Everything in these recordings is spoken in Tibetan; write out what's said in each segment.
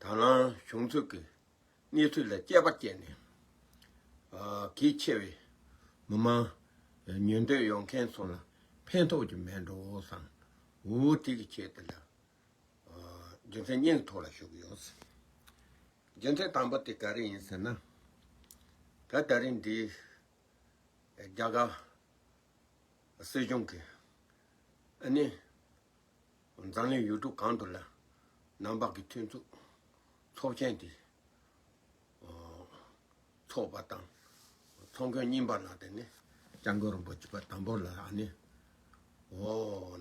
དང་བླངས་བྱུང་ཚུལ་གྱི་གནས་ཚུལ་ལ་དཔྱད་པ་བསྐྱལ་ནས། གལ་ཆེ་བའི་མི་མང་ཉུང་འདོད་ཡོད་མཁན་ཚོ་ལ་ཕན་ཐོགས་ཀྱི་མེད་འགྲོ་བསམ་འུར་འུར་ཏིག་ཏིག་བྱས་ཏེ། རྒྱུ་མཚན་སྙིང་ཐོག་ལ་ཞུགས་ཡོད། རྒྱུ་མཚན་དང་པོ་དེ་ག་རེ་ཡིན་ཟེར་ན། ད་ལྟ་རིང་འདིའི་རྒྱ་གར་སྲིད་གཞུང་གིས་ཨ་ནི། འཛམ་གླིང་ཡུལ་གྲུ་གང་དུ་ལ་ནང་བག་གི་མཐུན་ཚོགས་ཚོགས་ཆེན་དེ་འཚོགས་པ་དང་ཚོགས་མགོན་རྙིང་པ་ལ་དེ་ནས་སྐྱབས་མགོན་རིན་པོ་ཆེ་པ་དང་པོ་ལ་ཨ་ནི་འོ་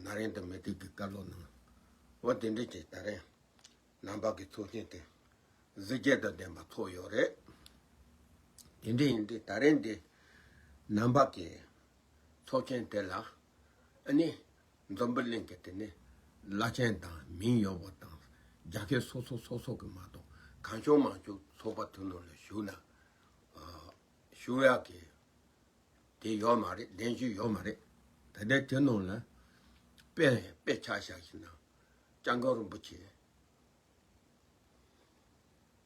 ན་རེང་དུ་མི་ཏིག་གི་བཀའ་སློབ་གནང་འོ་དེ་འདྲའི་ཆེད་ད་རེང་ནང་བག་གི་ཚོགས་ཆེན་དེ་གཟི་བརྒྱད་དང་ལྡན་པ་འཚོགས་ཡོད་རེད་དེ་འདྲ་ཡིན་དུས་ད་རེང་འདི་ནང་བག་གི་ཚོགས་ཆེན་དེ་ལ་ཨ་ནི་འཛམ་བུ་གླིང་གི་དེ་ནི། བླ་ཆེན་དང་མིང་ཡོད་པ་དང་རྒྱ་སྐད་སོ་སོ་སོ་སོ་གི་མ་གཏོགས་གང་བྱུང་མང་བྱུང་ཚོགས་པ་དུ་ནོར་ལ་ཞུགས་ན། ཞུ་ཡག་གི་དེ་ཡོད་མ་རེད་གདན་ཞུ་ཡོད་མ་རེད་ད་ལྟའི་དུས་ནོར་ལ་དཔེ་ལས་དཔེ་ཆ་བཞག་ཤིག་ན་སྤྱང་གང་རིན་པོ་ཆེ།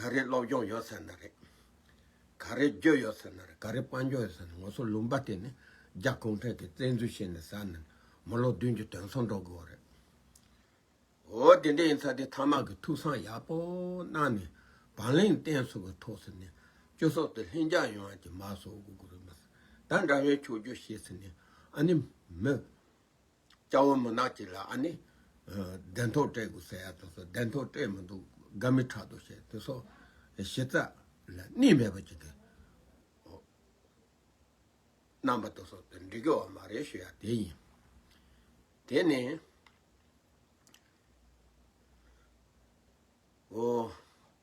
ག་རེ་སློབ་སྦྱོང་ཡོད་ཟེར་ན་རེད། ག་རེ་བརྗོད་ཡོད་ཟེར་ན་རེད་ག་རེ་དཔང་རྒྱག་ཡོད་ཟེར་ན་ངོ་སོ་ལུང་པ་དེ་ནི་རྒྱ་གུང་ཁྲན་གྱི་བཙན་འཛུལ་བྱས་ནས་ཟ་ནས་མི་ལོ་བདུན་གྱི་དོན་སོང་འགྲོ་དགོས་བ་རེད། འོ་དེ་འདྲ་ཡིན་ཚ་དེ་ཐ་མག་གི་ཐུགས་བསམ་ཡག་པོ་གནང་ནས་བང་ལེན་བསྟན་སོགས་ཀྱི་ཐོག་ཟེར་ནས་སྤྱི་ཚོགས་དེ་ལྷིང་འཇགས་ཡོང་བ་གྱི་མ་སོགས་དགོས་དགོས་རེད་མ་ཟད་ད་འདྲ་བའི་ཆོས་བརྒྱུད་བཤད་ཟེར་ནས་ཨ་ནི་མི། སྐྱ་བོ་མུན་ནག་ཅིག་ལ་ཨ་ནི། གདན་ཐོག་སྤྲད་དགོས་ཟེར་ཡ་དོ་སོ་གདན་ཐོག་སྤྲད་མི་འདུག་དགའ་མི་དྲག་དོ་ཞེས་དོ་སོ། གཞི་རྩ་ལ་གནས་མེད་པ་ཅིག་གིས། རྣམ་པ་དོ་སོ་དེ་འདྲི་དགོས་བ་མ་རེད་ཞུ་ཡ་དེ་ཡིན། དེ་ནི། འོ།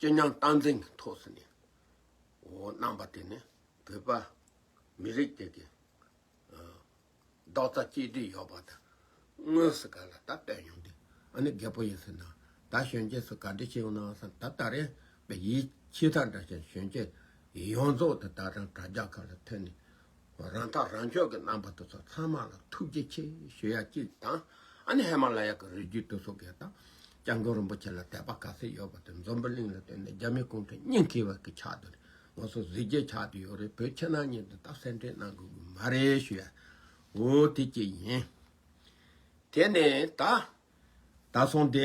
ཅེ་ཉང་རྟ་མགྲིན་གྱི་ཐོག་སུ་ནས་གནང་པ་དེ་ནི་བོད་པ་མི་རིགས་དེ་གི་རྡོག་རྩ་གཅིག་སྒྲིལ་ཡོད་པ་དང་དངོས་སུ་ག་ལ་ད་བསྟན་ཡོང་དུས་ཨ་ནི་རྒད་པོ་ཡིན་ཟེར་ན་ད་གཞོན་སྐྱེས་སུ་ག་འདྲི་བྱེད་ཡོང་ནའང་བསམ་ད་ད་རེས་པའི་ཡིད་ཆེས་དང་འདྲ་ཞིང་གཞོན་སྐྱེས་ཡོངས་རྫོགས་དེ་ད་རང་དྲ་རྒྱ་ག་ལ་ཐོན་ནས་རང་ཐག་རང་གཅོད་ཀྱི་རྣམ་པ་དེ་ཚོ་ཚང་མ་ལ་ཐུགས་རྗེ་ཆེ་ཞུ་ཡ་གཅིག་དང་ཨ་ནི་ཧེ་མ་ལ་ཡ་གི་རི་རྒྱུད་དུ་སོ་གས་དང་སྐྱབས་མགོན་རིན་པོ་ཆེ་ལ་དད་པ་ག་ཚད་ཡོད་པ་དེ་འཛོམས་པོ་གླིང་ལ་བསྟོད་ནས་རྒྱ་མི་གུང་ཁྲན་སྙིང་ཁེ་བ་གི་ཆགས་དུ་ང་ཚོ་གཟི་བརྗེད་ཆགས་དུ་ཡོད་རེད་བོད་ཕྱི་ནང་གཉིས་དེ་ད་གསལ་འགྲེལ་གནང་དགོས་གི་མ་རེད་ཞུ་ཡ་འོ་དེ་གཅིག་ཡིན། དེ་ནས་ད་ད་སོང་དེ།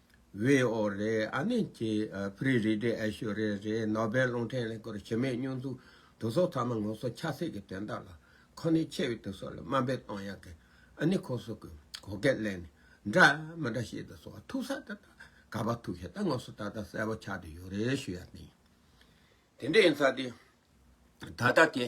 བའི་ཨོ་རེད་ཨ་ནི་ཀྱི་བྷིརི་རི་རེད་ཨེ་ཤོ་རེ་རེད་ནོ་སྦེལ་རླུང་འཕྲིན་ལས་སྐོར་བྱེད་མེད་སྙུང་འཛུགས་དུག་གསོག་ཚང་མ་ངོ་སོ་ཆགས་སྲེད་ཀྱི་དོན་དག་ལ་ཁོ་ནི་ཆེ་བའི་དུག་གསོག་ལ་དམའ་འབེབས་གཏོང་ཡག་གི་ཨ་ནི་ཁོ་སོག་གི་གོ་སྐད་གླེང་ནི་འདྲ་མི་འདྲ་ཤེས་དུག་གསོག་ཐུག་ས་ད་ད་ག་པ་ཐུག་ཤེས་ད་ངོ་སོ་ད་ད་གསལ་པོ་ཆགས་དུ་ཡོད་རེད་ཞུ་ཡག་གི་ཡིན་དེ་འདྲ་ཡིན་ས་དེ་ད་ད་དེ་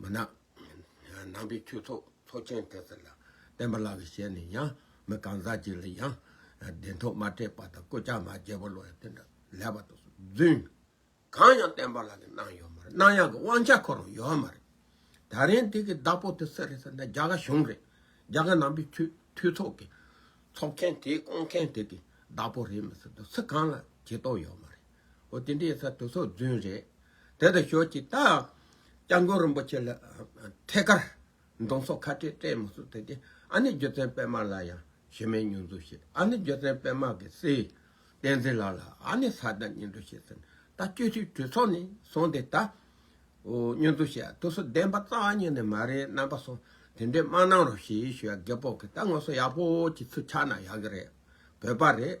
མ་ནག། ནང་པའི་ཁྱུ་ཚོགས་ཚོགས་ཆེན་དེ་ཚོ་ལ་བསྟན་པ་ལགས་པའི་ཞལ་ནས་ཡང་མི་གང་ཟག་ཅིག་ལ་ཡང་བདེན་ཐོག་མ་སྤྲད་པ་དང་སྐུ་ཕྱྭ་མ་རྒྱལ་པོ་ལོ་ཡང་དེ་འདྲ་ལས་པ་དང་བརྫུན། གང་ཡང་བསྟན་པ་ལགས་ཀྱི་གནང་ཡོད་མ་རེད་གནང་ཡག་གི་དབང་ཆ་ཁོ་རང་ཡོད་མ་རེད། ད་རིང་དེ་གི་བདག་པོ་དེ་སུ་རེད་ཟེར་ན་རྒྱ་གར་གཞུང་རེད་རྒྱ་གར་ནང་པའི་ཁྱུ་ཁྱུ་ཚོགས་ཀྱི་ཚོགས་ཆེན་དེ་སྐོང་མཁན་དེ་གི་བདག་པོ་རེད་མི་སྲིད་དོ་སི་གང་ལ་བྱེད་དོགས་ཡོད་མ་རེད། ཨོ་དེ་འདྲའི་ཚ་དུག་སོགས་རྫུན་རེད། དེ་དང་ཞོག་ཅིག་ད། སྐྱབས་མགོན་རིན་པོ་ཆེ་ལ་ཐད་ཀར། མདོང་སོགས་ཁ་བྲལ་སྤྲད་མི་གསུང་ཟེར་གྱི། ཨ་ནེ་རྒྱུ་མཚན་སྤེལ་མ་ལ་ཡང་ཞེ་མེད་སྙུན་འཛུགས་བྱེད། ཨ་ནེ་རྒྱུ་མཚན་སྤེལ་མ་གི་སྲས། བསྟན་འཛིན་ལགས་ལ་ཨ་ནེ་ས་དང་སྙུན་འཛུགས་བྱེད་ཟེར། ད་བཅུ་ཕྲུག་གྲོས་ཚོགས་ནས་སོང་སྟེ་ད། སྙུན་འཛུགས་བྱེད་ཨ་དུག་སོགས་བདེན་པ་རྩ་བ་ཉིད་ནས་མ་རེད་རྣམ་པ་སོགས་དེ་འདྲའི་སྨྲ་གནང་རོགས་ཞེས་ཞུ་ཡ་རྒད་པོ་གིས་ད་ངོ་སོ་ཡག་པོ་གྱི་ཚུལ་ཆགས་ན་ཡག་གི་རེད་བོད་པ་རེད།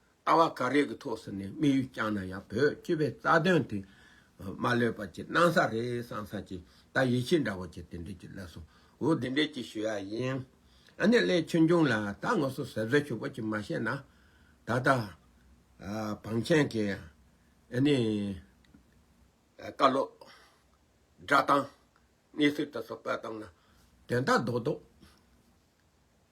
ལྟ་བ་ག་རེ་གི་ཐོག་སུ་ནས་དམིགས་ཡུལ་བསྐྱངས་ན་ཡང་བོད་སྤྱི་བའི་རྩ་དོན་དེ་མ་ལོས་པ་ཅིག་སྣང་ས་རེད་བསམ་ས་ཅིག་ད་ཡིད་ཆེས་འདྲ་བོ་ཅིག་དེ་འདྲས་ཅིག་སླེབས་སོང་འོ་དེ་འདྲས་ཅིག་ཞུ་ཡ་ཡིན། ཨ་ནེ་ལེ་ཆོས་འབྱུང་ལ་ད་ངོ་སོ་ཟེར་ཟོལ་ཞུ་བོ་ཅིག་མ་བཤད་ན་ད་ལྟ་བང་ཆེན་གི་ཨ་ནེ་བཀའ་སློབ་སྒྲ་གཏང་གནས་ཚུལ་དེ་ཚོ་བཀོད་གཏང་ན་དོན་དག་རྡོག་རྡོག།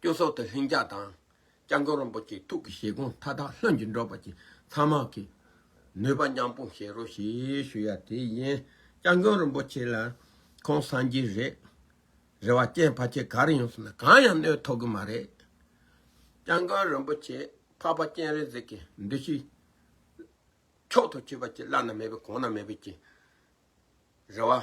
སྐྱོན་སོགས་ཏུ་ལྷིང་འཇགས་དང། སྐྱབས་མགོན་རིན་པོ་ཆེའི་ཐུགས་ཀྱི་བཞེད་དགོངས་མཐའ་དག་ལྷུན་གྱིས་འགྲུབ་པ་བཅས་ཚང་མ་གི་ནུས་པ་མཉམ་སྤུངས་བྱེད་རོགས་ཞེས་ཞུ་ཡ་དེ་ཡིན། སྐྱབས་མགོན་རིན་པོ་ཆེ་ལ། ཁོང་སངས་རྒྱས་རེད། རེ་བ་སྐྱེན་ཕ་ཁྱེད་ག་རེ་ཡོང་སོང་ན་གང་ཡང་གནོད་ཐོག་གི་མ་རེད། སྐྱབས་མགོན་རིན་པོ་ཆེ་འཕགས་པ་སྤྱན་རས་གཟིགས་ཀྱི་འདུ་ཤེས་མཆོག་ཏུ་གྱུར་པ་བཅས་བླ་ན་མེད་པའི་གོང་ན་མེད་པའི་རྒྱུ་རེ་བ།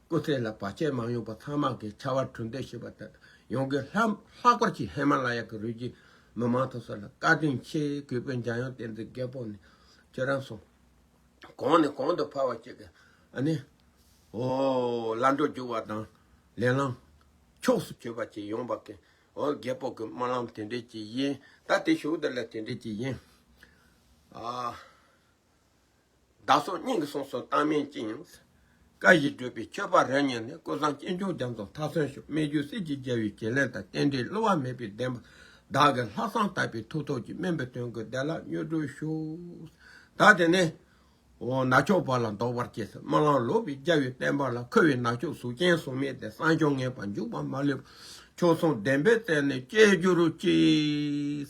སྐུ་ཚེ་ལ་བར་ཆད་མ་ཡོང་པར་ཚང་མ་གི་ཕྱར་བ་གྲུ་འདེགས་བྱེད་པ་དང་ཡོང་གི་ལྷག་པར་གྱི་ཧེ་མ་ལ་ཡ་གི་རུས་རྒྱུད་མི་མང་ཚོགས་སོགས་ལ་བཀའ་དྲིན་ཆེ་གུས་པས་འཇམ་དབྱངས་བསྟན་འཛིན་རྒད་པོ་ནས་ཁྱེད་རང་སོང་གང་ནས་གང་དུ་ཕར་བ་བཅད་ཀྱི་ཨ་ནི་འོ་ལ་འགྲོ་རྒྱུག་བ་དང་ལས་ལངས་ཕྱོགས་སུ་བྱོས་པ་བཅས་ཡོང་བ་གི་འོ་རྒད་པོ་གི་སྨོན་ལམ་དེ་འདྲས་ཀྱི་ཡིན་ད་དེ་ཞུགས་དེ་ལ་དེ་འདྲས་ཀྱི་ཡིན། བདག་སོགས་སྙིང་གི་གསུང་སོགས་བཏགས་མིན་ཅི་ཡིན། བཀའ་བཞིན་བགྲོས་པའི་ཆོས་པ་རབ་གཉེར་ནི་ཀུན་བཟང་སྐྱེས་མཆོག་རྒྱ་མཚོ་མཐའ་སོན་ཤོག་སྨད་རྒྱུད་གསེར་གྱི་རྒྱལ་བའི་བྱིན་ལེན་དང་རྟེན་འབྲེལ་བསླུ་བ་མེད་པའི་བདེན་པ་བདག་གི་ལྷག་བསམ་དག་པའི་ཐུགས་ཐོགས་ཀྱི་སྨན་པའི་དོན་ཀུན་བདེ་བླག་མྱུར་གྲོལ་ཤོག། བདག་དེ་ནི། ནག་ཕྱོགས་བར་ལ་འདོགས་པར་སྐྱེས་སོ་སྨོན་ལམ་ལོག་པའི་རྒྱལ་བའི་བསྟན་པ་ལ་འཁོལ་བའི་ནག་ཕྱོགས་གཟུགས་ཅན་གཟུགས་མེད་དེ་སངས་ཀྱང་ངེས་པར་འཇུག་པ་མ་ལུས་པ་ཕྱོགས་མཚུངས་བདེན་པའི་རྩལ་ནི་སྐྱེ་གྱུར་ཅིག།